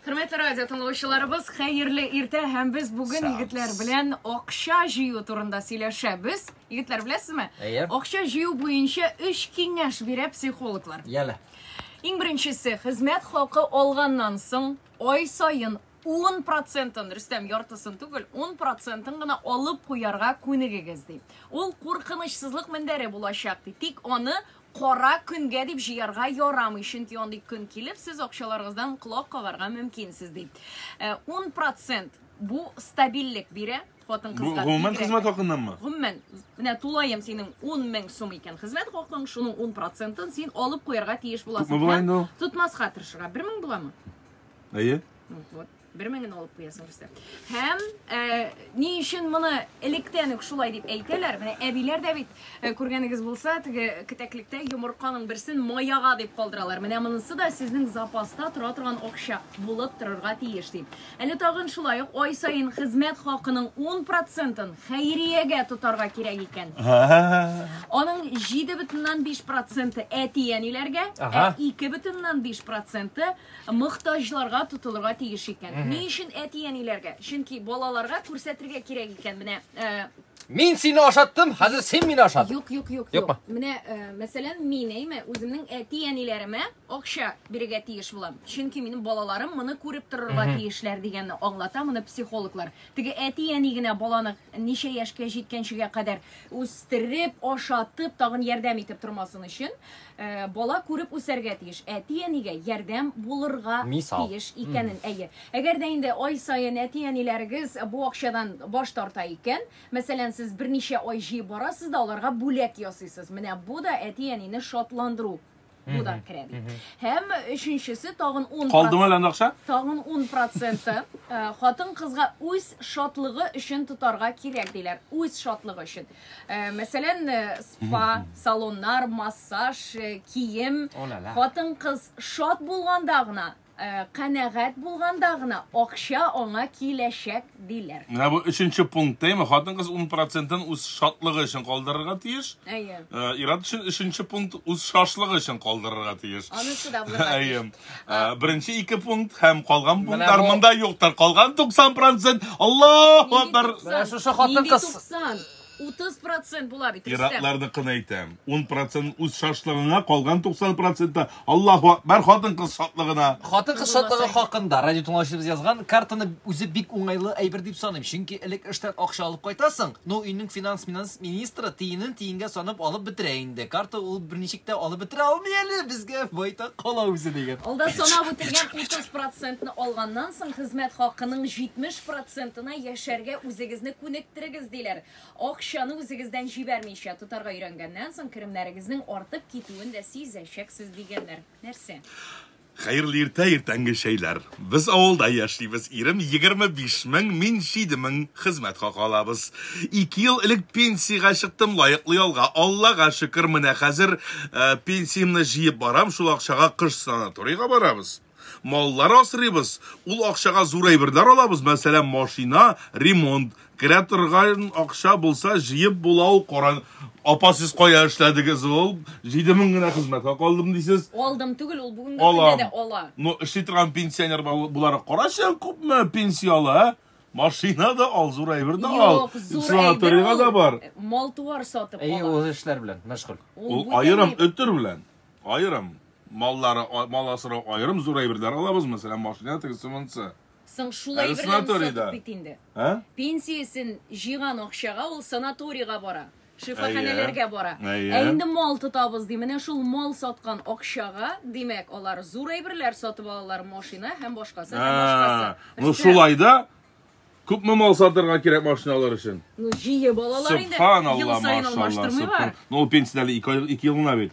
Хөрмәтле радио тыңлаучыларыбыз, хәерле иртә һәм без бүген егетләр белән акча җыю турында сөйләшәбез. Егетләр, беләсезме? Әйе. Акча җыю буенча өч киңәш бирә психологлар. Яле. Иң беренчесе, хезмәт хакы алганнан соң ай саен 10 процентын, Рөстәм, яртысын түгел, 10 процентын гына алып куярга күнегегез, ди. Ул куркынычсызлык мендәре булачак, ди. Тик аны Кара көнгә дип җыярга ярамый, чөнки андый көн килеп, сез акчаларыгыздан колак кагарга мөмкинсез, ди. 10 процент бу стабильлек бирә хатын Бу кызга. гомумән бигрәк. хезмәт хакыннанмы? Гомумән, менә тулаем синең 10 мең сум икән хезмәт хакың, шуның 10 процентын син алып куярга тиеш буласың. Күпме була инде ул? Тотмаска тырышырга. 1000 буламы? Әйе. Ну, вот. бер меңен алып куясың берсе һәм ә, ни өчен моны электән үк шулай дип әйтәләр менә әбиләр дә бит ә, күргәнегез булса теге кетәклектә йомырканың берсен маяга дип калдыралар менә монысы да сезнең запаста тора торган акча булып торырга тиеш ди әле тагын шулай ук ай саен хезмәт хакының 10 процентын хәйриягә тотарга кирәк икән аның 7,5 проценты әти әниләргә ә 2,5 проценты мохтаҗларга тотылырга тиеш икән. Ни өчен әти-әниләргә? Чөнки балаларга күрсәтергә кирәк икән. Менә э, Мин сине ашаттым, хәзер син мине ашат. Юк, юк, юк, юк. Менә, э, мәсәлән, мин әйме, үземнең әти-әниләремә акча бирергә тиеш булам. Чөнки минем балаларым моны күреп торырга тиешләр дигәнне аңлата моны психологлар. Теге әти-әни генә баланы ничә яшькә җиткәнчегә кадәр үстереп, ашатып, тагын ярдәм итеп тормасын өчен, Бала күреп үсәргә тиеш, әти-әнигә ярдәм булырга Мисал. тиеш икәнен. Әйе. Әгәр дә инде ай саен әти-әниләрегез бу акчадан баш тарта икән, мәсәлән, сез берничә ай җыеп барасыз да аларга бүләк ясыйсыз. Менә бу да әти-әнине шатландыру бу да керә бит. Һәм өченчесе тагын 10 Калдымы әле анда акча? Тагын 10 проценты хатын-кызга үз шатлыгы өчен тотарга кирәк диләр. Үз шатлыгы өчен. Э, мәсәлән э, спа салоннар массаж э, кием хатын кыз шат булганда гына канәгать булганда гына акча аңа киләчәк диләр менә бу өченче пункт әйме хатын кыз ун процентын үз шатлыгы өчен калдырырга тиеш әйе ират өчен өченче пункт үз шашлыгы өчен калдырырга тиеш анысы да әйе Ә, Беренче ике пункт һәм калган пунктлар бу- монда юктыр. Калган 90 процент. Аллаһу акбар. Менә шушы хатын кыз. 90. 30 процент була бит. Рөстәм. Иратларны кына әйтәм. 10 процент үз шашлыгыңа, калган 90 процентта. Аллаһу акбар хатын кыз шатлыгына. Хатын кыз шатлыгы хакында радио тыңлаучыбыз язган картаны үзе бик уңайлы әйбер дип саныйм. Чөнки элек эштән акча алып кайтасың, ну өйнең финанс-минанс министры тиенен тиенгә санап алып бетерә инде. Карта ул берничек тә алып бетерә алмый әле, безгә байтак кала үзе дигән. Алда санап үтелгән 30 процентны алганнан соң хезмәт хакының 70 процентына яшәргә үзегезне күнектерегез, диләр. Акчаны үзегездән җибәрмичә тотарга өйрәнгәннән соң керемнәрегезнең артып китүен дә сизәчәксез, дигәннәр. Нәрсә? Хәерле иртә, иртәнге чәйләр. Без авылда яшибез, ирем 25 мең, мин 7 мең хезмәт хакы алабыз. Ике ел элек пенсиягә чыктым, лаеклы ялга, Аллага шөкер, менә хәзер пенсиямне җыеп барам, шул акчага кыш санаторийга барабыз. Маллар асрыйбыз, ул акчага зур әйберләр алабыз, мәсәлән, машина, ремонт, Керә торган акча булса, җыеп була ул, кара. Апа, сез кая эшләдегез ул? Җиде мең генә хезмәткә калдым дисез. Алдым түгел, ул бүгенге көндә дә ала. Ну, эшли торган пенсионер буларак карачы, күпме пенсия ала, ә? Машина да ал, зур әйбер дә ал. Юк, зур Санаторийга да бар. Мал-туар сатып ала. Әйе, ул эшләр белән мәшгуль. Ул аерым өтер белән. Аерым. Маллары, мал асрау аерым, зур әйберләр алабыз, мәсәлән, машина тегесе монысы. Соң шул Әле әйберләрне санаторийда. сатып бит инде. Ә? Пенсиясен җыйган акчага ул санаторийга бара, шифаханәләргә бара. Әйе. Ә инде мал тотабыз ди. Менә шул мал саткан акчага, димәк, алар зур әйберләр сатып алалар, машина һәм башкасы, һәм Ә, башкасы. Ну Өстә. шулай да күпме мал сатырга кирәк машина алыр өчен? Ну, җие балалар инде. Ел Субханалла, саен машалла, алмаштырмыйлар. субхан. Ну ул пенсиядә әле ике ай- ике ел гына бит.